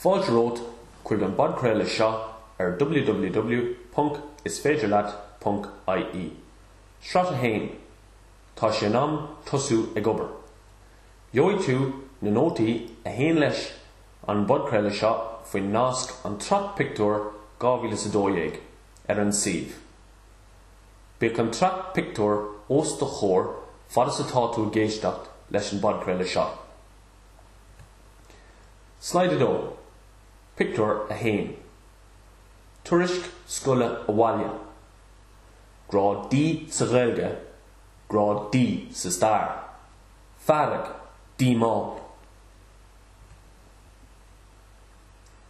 Fáilte romhat chuig an bpodchraoladh seo ar www.isféidirleat.ie, Sraith 1, Tá sé in am tosú ag obair. Gheobhaidh tú na nótaí a théann leis an bpodchraoladh seo faoin nasc An tSraith Pictiúr 2012 ar an suíomh. Bíodh an tsraith pictiúr os do chomhair fad is atá tú ag éisteacht leis an bpodchraoladh seo. Slide 2, Pictiúr 1, Tuairisc scoile abhaile, Grád D sa Ghaeilge, Grád D sa Stair, Fearg, Díomá.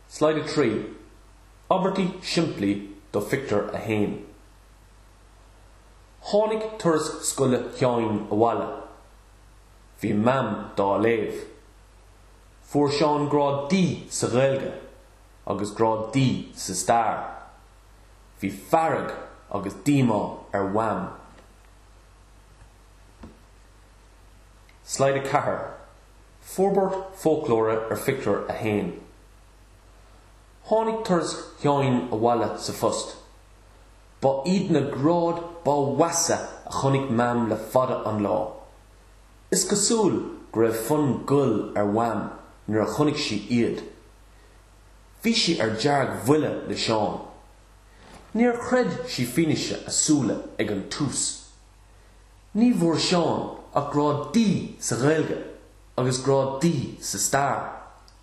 Slide 3. Abairtí simplí do phictiúr a haon. Tháinig tuairisc scoile Sheáin abhaile. Bhí Mam dá léamh. Fuair Seán grád D sa Ghaeilge agus grád D sa stair. Bhí fearg agus díomá ar Mham. Slide 4, Forbairt foclóra ar phictiúr a haon. Tháinig tuairisc Sheáin abhaile sa phost. Ba iad na gráid ba mheasa a chonaic Mam le fada an lá. Is cosúil go raibh fonn goil ar Mham nuair a chonaic sí iad. Bhí sí ar deargbhuile le Seán. Níor chreid sí fianaise a súile ag an tús. Ní bhfuair Seán ach Grád D sa Ghaeilge agus Grád D sa Stair.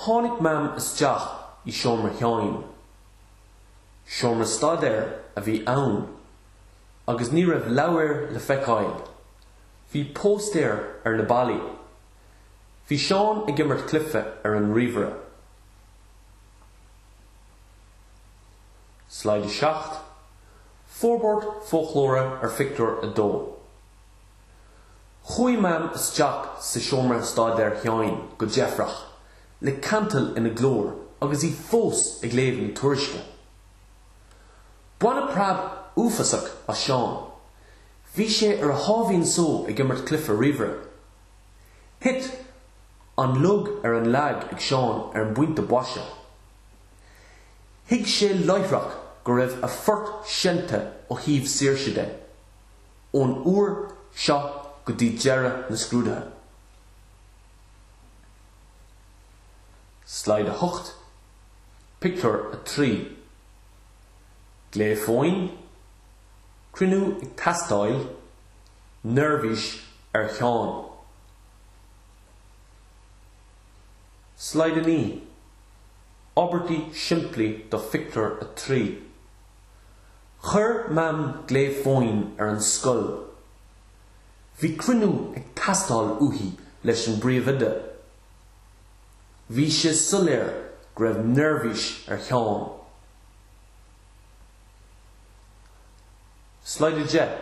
Tháinig Mam isteach i seomra Sheáin. Seomra staidéir a bhí ann agus ní raibh leabhair le feiceáil. Bhí póstaeir ar na ballaí. Bhí Seán ag imirt cluife ar an ríomhaire. Slide 7, Forbairt foclóra ar phictiúr 2. Chuaigh Mam isteach i seomra staidéir Sheáin go deifreach, le cantal ina glór agus í fós ag léamh na tuairisce. Baineadh preab uafásach as Seán. Bhí sé ar a sháimhín só ag imirt cluife ríomhaire. Thit an lug ar an lag ag Seán ar an bpointe boise. Thuig sé láithreach go raibh a phort seinnte ó thaobh saoirse de. ón uair seo go dtí deireadh na scrúduithe. Slide 8, Pictiúr 3 Glao fóin, cruinniú ag teastáil, neirbhís ar Sheán. Slide 9, Abairtí simplí do Phictiúr 3. Chuir Mam glao fóin ar an scoil. Bhí cruinniú ag teastáil uaithi leis an bpríomhoide. Bhí sé soiléir go raibh neirbhís ar Sheán. Slide 10,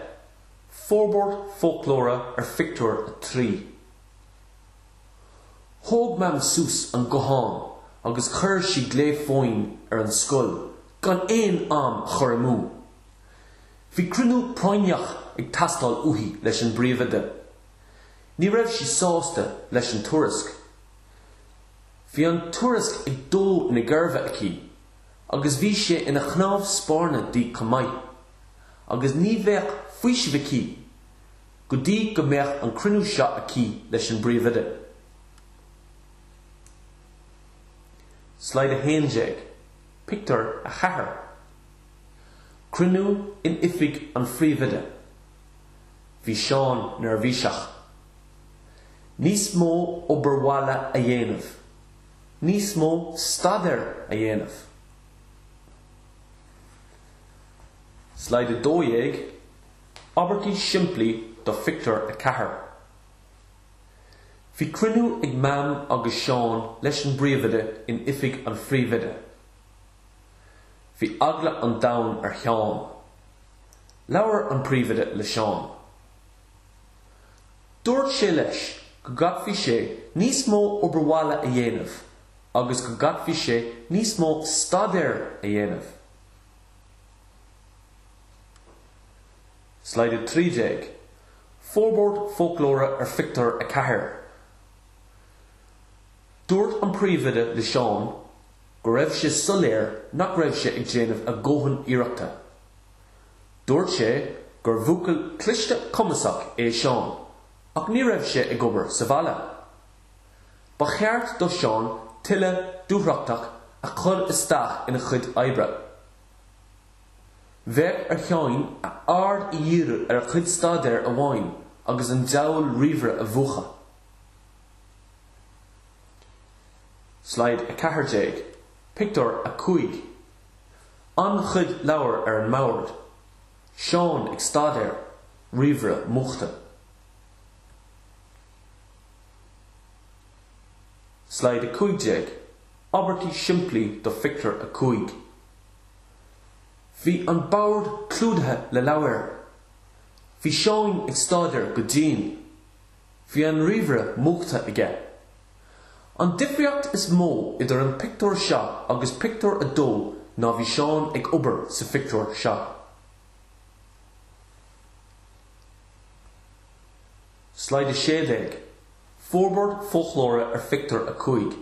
Forbairt foclóra ar phictiúr a trí. Thóg Mam suas an guthán agus chuir sí glao fóin ar an scoil gan aon am a chur amú. Bhí cruinniú práinneach ag teastáil uaithi leis an bpríomhoide. Ní raibh sí sásta leis an tuairisc. Bhí an tuairisc ag dó na geirbe aici, agus bhí sé ina chnámh spairne di chomh maith, agus ní bheadh faoiseamh aici go dtí go mbeadh an cruinniú seo aici leis an bpríomhoide. Slide 11. Pictiúr 4 Cruinniú in oifig an phríomhoide. Bhí Seán neirbhíseach. Níos mó obair bhaile a dhéanamh. Níos mó staidéir a dhéanamh. Slide 12, Abairtí simplí do Phictiúr 4. Bhí cruinniú ag Mam agus Seán leis an bpríomhoide in oifig an phríomhoide. Bhí eagla an domhain ar Sheán. Labhair an príomhoide le Seán. Dúirt sé leis go gcaithfeadh sé níos mó obair bhaile a dhéanamh agus go gcaithfeadh sé níos mó staidéir a dhéanamh. Slide 13. Forbairt foclóra ar phictiúr a ceathair Dúirt an príomhoide le Seán go raibh sé soiléir nach raibh sé ag déanamh a dhóthain iarrachta. Dúirt sé gur bhuachaill cliste cumasach é Seán ach ní raibh sé ag obair sa bhaile. Ba cheart do Seán tuilleadh dúthrachta a chur isteach ina chuid oibre. Bheadh ar Sheán a aird a dhíriú ar a chuid staidéir amháin agus an deabhal ríomhaire a mhúchadh. Slide 14, Pictiúr 5 An-chuid leabhar ar an mbord, Seán ag staidéar, ríomhaire múchta. Slide 15, Abairtí simplí do Phictiúr 5. Bhí an bord clúdaithe le leabhair. Bhí Seán ag staidéar go dian. Bhí an ríomhaire múchta aige. An difríocht is mó idir an pictiúr seo agus pictiúr a dó ná bhí Seán ag obair sa phictiúr seo. Slide 16, Forbairt foclóra ar phictiúr a cúig.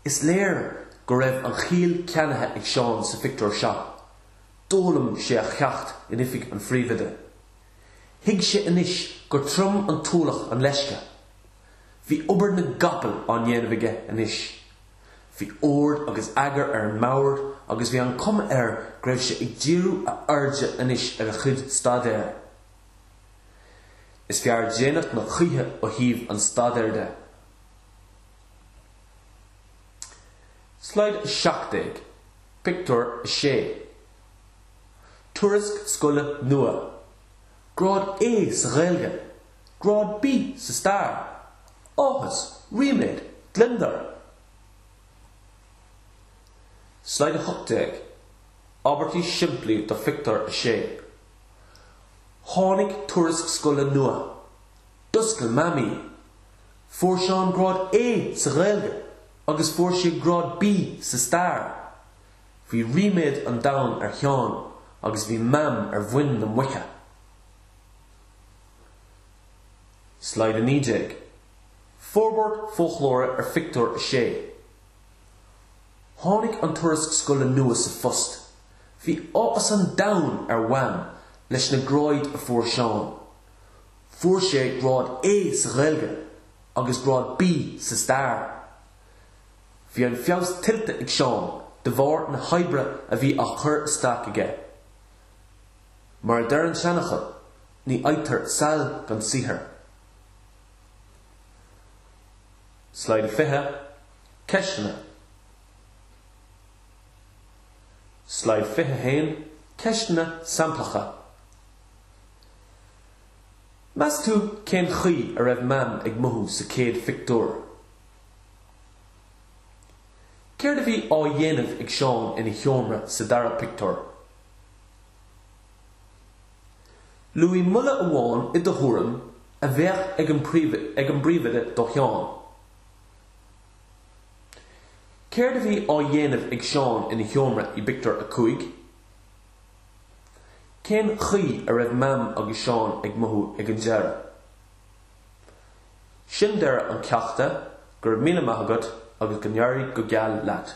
Is léir go raibh an chiall ceannaithe ag Seán sa phictiúr seo. D'fhoghlaim sé a cheacht in oifig an phríomhoide. Thuig sé anois gur trom an t-ualach an leisce. Bhí obair na gcapall á ndéanamh aige anois. Bhí ord agus eagar ar an mbord agus bhí an chuma air go raibh sé ag díriú a airde anois ar a chuid staidéir. Is fearr déanach ná choíche ó thaobh an staidéir de. Slide 17, Pictiúr 6 Tuairisc scoile nua, Grád A sa Ghaeilge, Grád B sa Stair, Áthas, Ríméad, Gliondar. Slide 18, Abairtí simplí do Phictiúr 6 Tháinig tuairisc scoile nua. D'oscail Mam í. Fuair Seán grád A sa Ghaeilge agus fuair sé grád B sa stair. Bhí ríméad an domhain ar Sheán agus bhí Mam ar mhuin na muice. Slide 19. Forbairt foclóra ar Phictiúr 6. Tháinig an tuairisc scoile nua sa phost. Bhí áthas an domhain ar Mham leis na gráid a fuair Seán. Fuair sé grád A sa Ghaeilge agus grád B sa Stair. Bhí an feabhas tuillte ag Seán de bharr na hoibre a bhí á cur isteach aige. Mar a deir an seanfhocal, ní fhaightear saill gan saothar. Slide 20, Ceisteanna Slide 21, Ceisteanna samplacha. Meas tú cén chaoi a raibh Mam ag mothú sa chéad phictiúr? Céard a bhí á dhéanamh ag Seán ina sheomra sa dara pictiúr? Luaigh moladh amháin, i do thuairim, a bheadh ag an bpríomhoide do Sheán. Céard a bhí á dhéanamh ag Seán ina sheomra i bpictiúr a cúig? Cén chaoi a raibh Mam agus Seán ag mothú ag an deireadh? Sin deireadh an cheachta, go raibh míle maith agat agus go n-éirí go geal leat.